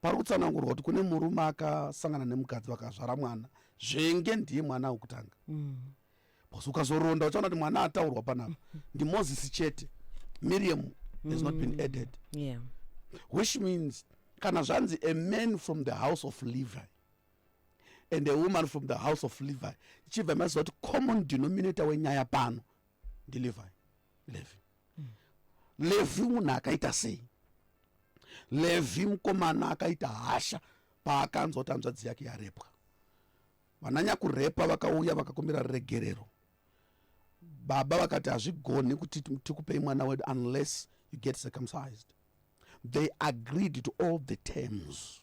pari kutsanangurwa kuti kune murume akasangana nemukadzi vakazvara mwana zvenge ndiye mwana wekutanga mm. bcause ukazoronda uchaona kuti mwana ataurwa panapa ndimozisi chete miriam has not been mm. added yeah. which means kana zvanzi a man from the house of levi and a woman from the house of levi ichibva maziva kuti common denominator wenyaya pano ndilevi levi levhi munhu akaita sei levhi mukomana akaita hasha paakanzwa kuti hanzvadzi yake yarepwa vananyakurepa vakauya vakakumbira ruregerero baba vakati hazvigoni kuti tikupei mwana wedu unless you get circumcised they agreed to all the terms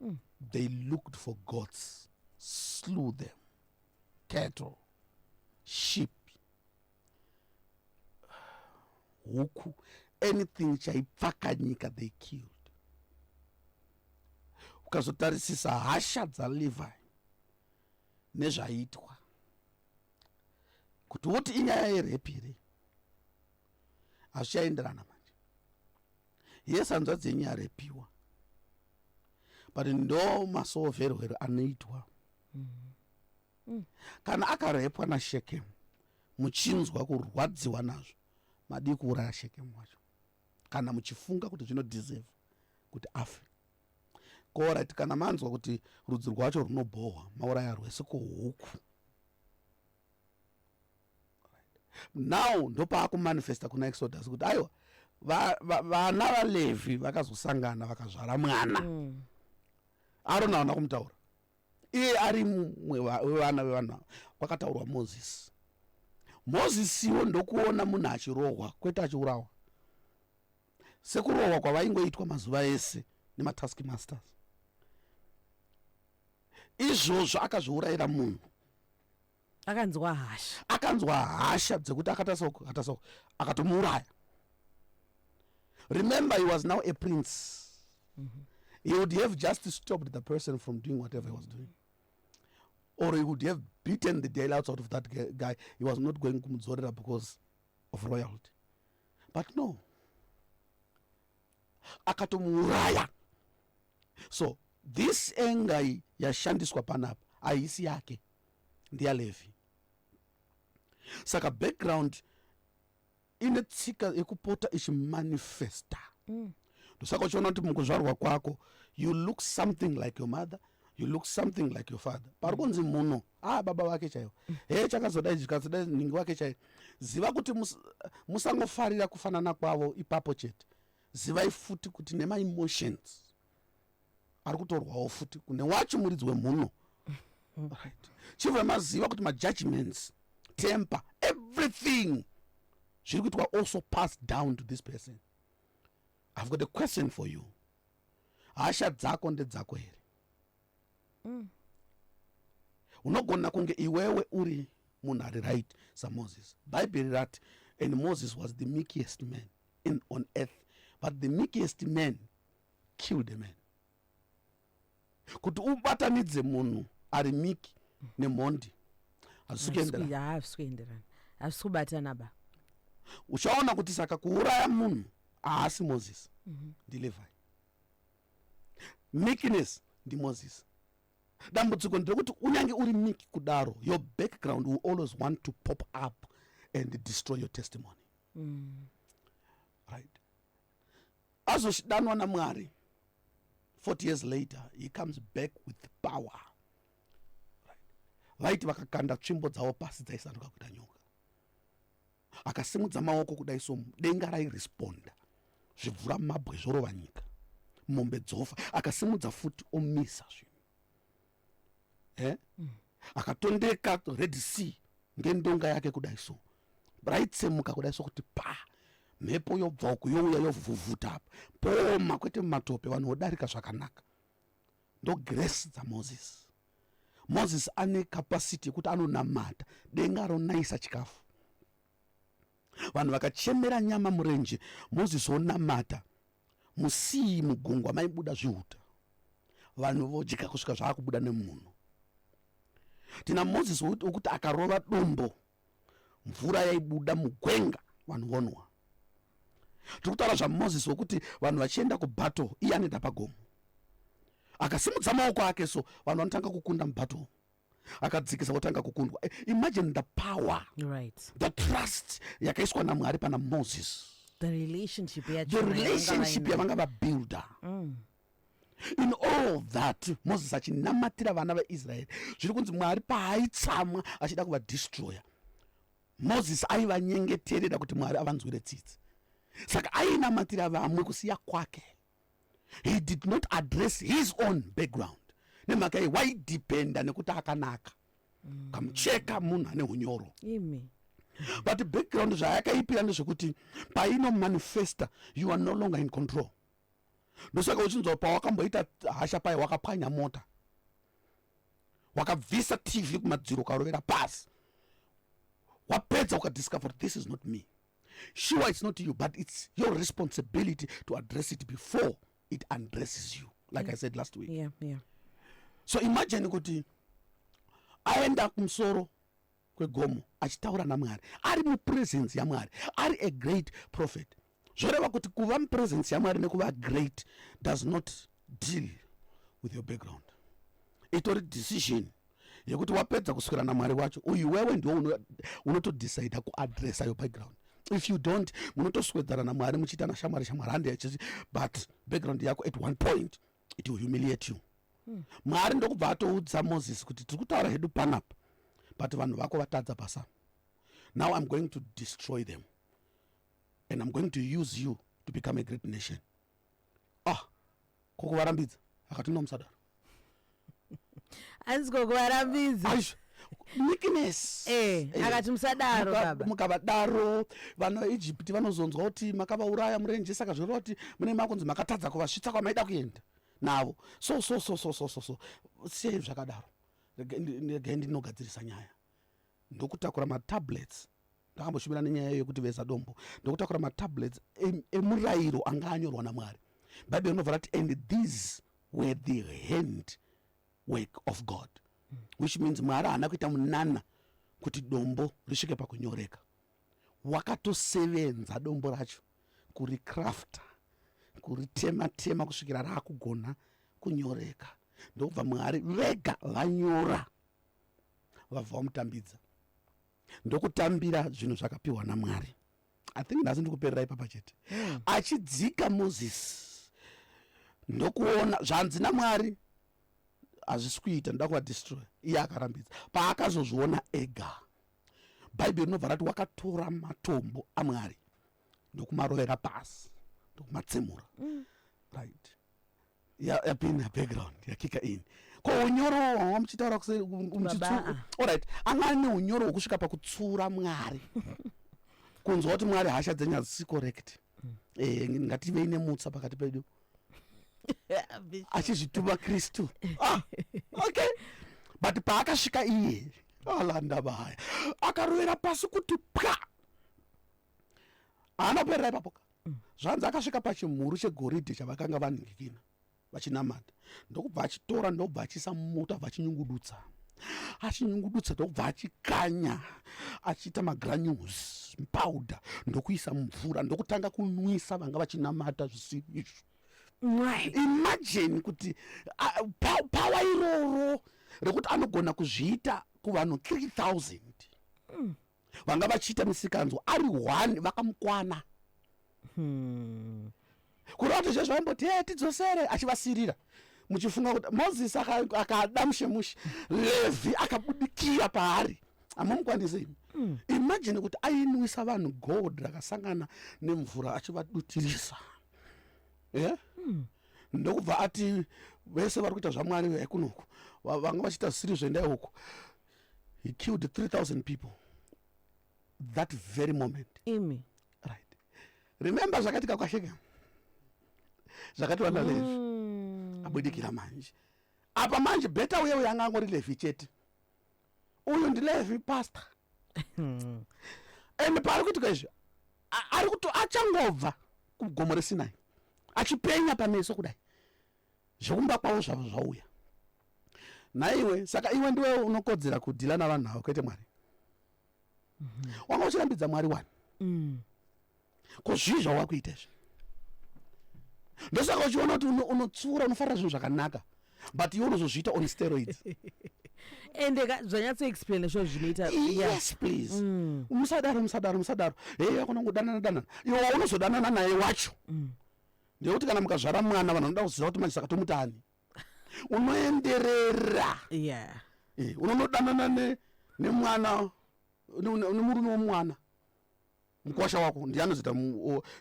mm. they looked for goats slew them cattle sheep huku anything chaipfaka nyika they killed ukazotarisisa hasha dzalevi nezvaiitwa kuti woti inyaya yerepi here hazvichaenderana manje yes hanzvadzi yenyu yarepiwa but ndo masoverwero anoitwa mm. Mm. kana akarepwa nashekemu muchinzwa kurwadziwa nazvo madii kuuraya shekemu wacho kana muchifunga kuti zvinodeserve kuti afe korit kana manzwa kuti rudzi rwacho runobhohwa mauraya rwese kuhuku now ndopaakumanifesta kuna exodus kuti aiwa vana valevhi vakazosangana vakazvara mwana mm. arona aona kumutaura iye ari mumwe wevana vevanhu ava kwakataurwa mozisi mozisiwo ndokuona munhu achirohwa kwete achiurawa sekurohwa kwavaingoitwa mazuva ese nematask masters izvozvo akazviurayira munhu akanzwa hasha akanzwa hasha dzekuti akatasoko akatasoko akatomuuraya remember he was now a prince mm -hmm. he would have just stopped the person from doing whatever he was doing or he would have beaten the deal out of that guy he was not going kumudzorera because of royalty but no akatomuuraya so this engai yashandiswa panapa haisi yake ndeyalevi saka background ine tsika yekupota ichimanifesta mm. ndosaka uchiona kuti mukuzvarwa kwako you look something like your mother you look something like your father pari kunzi muno ah baba vake chaivo he chakazoda izvi chikazoda ningi wake chaivo ziva kuti musangofarira kufanana kwavo ipapo chete zivai futi kuti nemaemotions ari kutorwawo futi kune wacho muridzi wemhuno right chibva maziva kuti majudgments temper everything zviri kuitwa also pass down to this person I've got a question for you. Hasha dzako ndedzako here? Mm. Unogona kunge iwewe uri munhu ari right samoses bhaibheri rati and moses was the meekest man in, on earth but the meekest man killed a man kuti ubatanidze munhu ari miki nemhondi hazvisi kuenderana hazvisi kuenderana hazvisi kubatana ba uchaona kuti saka kuuraya munhu haasi moses mhm. ndilevai meekness ndimoses dambudziko nderekuti unyange uri miki kudaro your background will always want to pop up and destroy your testimony mm. right azoshidanwa namwari 40 years later he comes back with power vaiti vakakanda tsvimbo dzavo pasi dzaisanduka kuita nyoka akasimudza maoko kudai somu denga rairesponda zvibvura mabwe zvorova nyika mombe dzofa akasimudza futi omisa zvinhu eh? mm. akatondeka red sea ngendonga yake kudai so raitsemuka kudai sokuti pa mhepo yobva uku youya yovhuvhuta apa pooma kwete mumatope vanhu vodarika zvakanaka ndograce dzamoses moses ane capacity yekuti anonamata denga ronayisa chikafu vanhu vakachemera nyama murenje mozisi onamata musii mugungwa maibuda zvihuta vanhu vodya kusvika zvaakubuda nemunhu tina mozisi wokuti akarova dombo mvura yaibuda mugwenga vanhu vonwa tiri kutaura zvamozisi wokuti vanhu vachienda kubattle iye anoenda pagomo akasimudza maoko ake so vanhu vanotanga kukunda mubattle akadzikisa otanga kukundwa eh, imagine the power right. the trust yakaiswa namwari pana moses the relationship yavanga vabuilda mm. in all that moses achinamatira vana vaisraeri zviri kunzi mwari paaitsamwa achida kuvadestroya moses aivanyengeterera kuti mwari avanzwire tsitsi saka ainamatira vamwe kusiya kwake he did not address his own background nemhaka ye waidhipenda nekuti akanaka mm. kamucheka munhu ane unyoro Imi. but background zvayakaipira ndezvekuti paino manifesta you are no longer in control ndosaka uchinzwa pawakamboita hasha paye wakapwanya mota wakabvisa tv kumadziro ukarovera pasi wapedza ukadiscover this is not me sure it's not you but it's your responsibility to address it before it undresses you like yeah. i said last week yeah, yeah. so imagine kuti aenda kumusoro kwegomo achitaura namwari ari mupresence yamwari ari a great prophet zvoreva kuti kuva mupresence yamwari nekuva great does not deal with your background itori decision yekuti wapedza kuswera namwari wacho uyu wewe ndiwo unotodecida kuadressa your background if you don't munotoswedzana namwari muchiita nashamwari shamwari hande yachizi but background yako at one point it will humiliate you hmm. mwari ndokubva atoudza moses kuti tiri kutaura hedu panapa but vanhu vako vatadza pasa now i'm going to destroy them and i'm going to use you to become a great nation ah ko kuvarambidza akati no musadaro hanzi ko kuvarambidza aisha meekness eh, eh, akati musadaro baba mukavadaro vana egypt vanozonzwa kuti makavauraya murenje saka zvinoreva kuti mune makunzi makatadza kuvasvitsa kwamaida kuenda navo so so so so so so so sei zvakadaro regai ndinogadzirisa nyaya ndokutakura matablets ndakamboshumira nenyaya iyo yekuti veza dombo ndokutakura matablets emurayiro e anga anyorwa namwari bhaibheri rinobva rati and these were the hand work of god mm. which means mwari haana kuita munana kuti dombo risvike pakunyoreka wakatosevenza dombo racho kuricrafta kuritematema kusvikira raakugona kunyoreka ndokubva mwari vega vanyora vabva vamutambidza ndokutambira zvinhu zvakapiwa namwari i think nhasi ndikuperera ipapa chete hmm. achidzika moses ndokuona zvanzi namwari hazvisi kuita ndoda kuvadestroy iye akarambidza paakazozviona ega bhaibheri rinobva rati wakatora matombo amwari ndokumarovera pasi ndokumatsemura mm. right yapinda ya background yakika ini ko unyoro hwanga muchitaura kuseorit anga ane unyoro hwekusvika pakutsura mwari kunzwa kuti mwari hasha dzenyu hadzisi correct mm. eh, ngativei nemutsa pakati pedu achizvituma kristu ah, okay but paakasvika iye alandaba haya akarovera pasi kuti pwa haana kuperera ipapo ka mm. zvanzi akasvika pachimhuru chegoridhe chavakanga vaningikina vachinamata ndokubva achitora ndokubva achiisa mumota bva achinyungudutsa achinyungudutsa ndokubva achikanya achiita magranules powder ndokuisa mumvura ndokutanga kunwisa vanga vachinamata zvisiri izvo imajini kuti pawa iroro rekuti anogona kuzviita kuvanhu 3000 mm. vanga vachiita misikanzwa ari one vakamukwana hmm. kureva kuti zvezvo vaimboti e tidzosere achivasirira muchifunga kuti mozisi akada mushemushe levhi akabudikira paari amamukwanise imi mm. imajini kuti ainwisa vanhu gold rakasangana nemvura achivadutirisa e yeah? mm. ndokubva ati vese vari kuita zvamwari vekunoku vanga vachiita zvisiri zvendae uku he killed 3000 people that very moment imi right remember zvakaitika kwasheke zvakati vana mm. levi hmm. abudikira manje apa manje beta uye uye anga angori levi chete uyu ndilevi pastor hmm. and paari kuitika izvi ari kuto achangobva kugomo resinai achipenya pameso kudai zvekumba kwavo zvavo zvauya nhaiwe saka iwe ndiwe unokodzera kudhila navanhu avo kwete mwari mm -hmm. wanga uchirambidza mwari wani mm. ko zvii zvawakuita izvi ndosaka uchiona kuti unotsiura unofarira zvinhu zvakanaka but iwe unozozviita on steroids ende zvanyatsoexplaina sho zvinoita yes please mm. musadaro musadaro musadaro hei akonangodanana danana iwe waunozodanana naye wacho mm. ndeyekuti kana mukazvara mwana vanhu vanoda kuziva kuti manje saka tomutani unoenderera yeah. e, unonodanana ne, nemwana nemurume ne, womwana mukwasha wako ndiye anozoita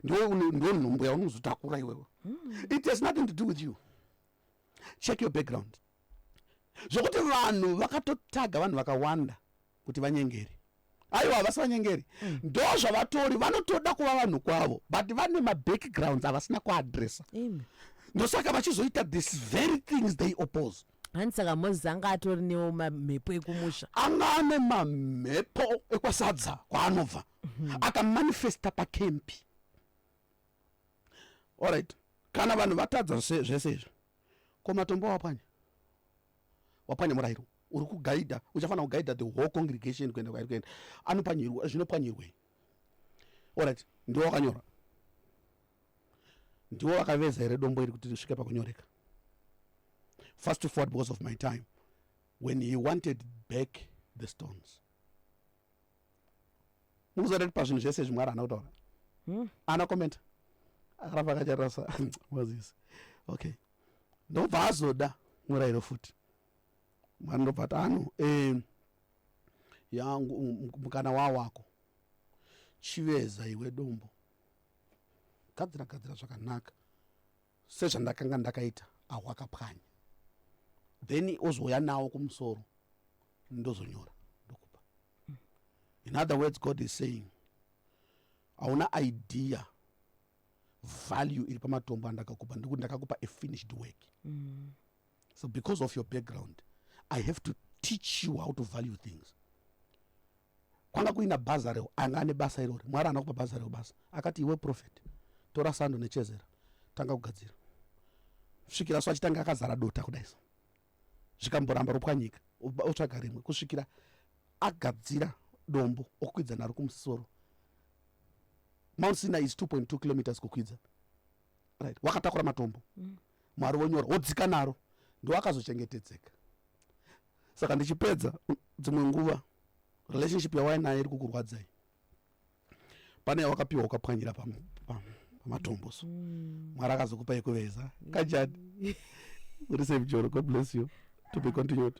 ndiwo nhumbu yaunozotakura iwewe mm. it has nothing to do with you check your background zvokuti vanhu vakatotaga vanhu vakawanda kuti vanyengeri aiwa havasi vanyengeri mm. ndo zvavatori vanotoda kuva vanhu kwavo but vane mabackgrounds avasina kuadressa ndosaka vachizoita this very things they oppose hani saka moses anga atori newo mamhepo ekumusha anga ane mamhepo ekwasadza kwaanobva mm -hmm. akamanifesta pakempi allright kana vanhu vatadza zvese izvi ko matombo wapwanya wapwanya murairo uri kugaidha uchafanira kugaidha the whole congregation kuenda kwairi kuenda anopanyirwa zvinopwanyirwei orit ndiwo wakanyora ndiwo wakaveza here dombo iri kuti risvike pakunyoreka first to forward because of my time when he wanted back the stones mukuziva kuti pazvinhu zvese zvimwe ari hana kutaura hmm? ana komenta akaramba akatarasa moses okay ndobva azoda murayiro futi mwana ndobva ati ano eh, yangu um, mukana wa wako chiveza iwe dombo gadzira gadzira zvakanaka sezvandakanga ndakaita ahwakapwanya then ozouya nawo kumusoro ndozonyora ndokupa in other words god is saying hauna idea value iri pamatombo andakakupa ndikuti ndakakupa a finished work mm. so because of your background i have to teach you how to value things kwanga kuina bhaza reo anga ane basa irori mwari ana kupa bhaza reo basa akati iwe profet tora sando nechezera tanga kugadzira svikira so achitanga akazara dota kudai so zvikamboramba ropwanyika otsvaga rimwe kusvikira agadzira dombo okwidza naro kumusoro mount sina is 2.2 kilometers kukwidza right wakatakura matombo mm. mwari vonyora wodzika naro ndiwo akazochengetedzeka saka ndichipedza dzimwe nguva relationship yawainayo iri kukurwadzai pane yawakapiwa ukapwanyira pamatombo so mm. mwari akazokupa yekuveza kajani uri safe joro god bless you to be continued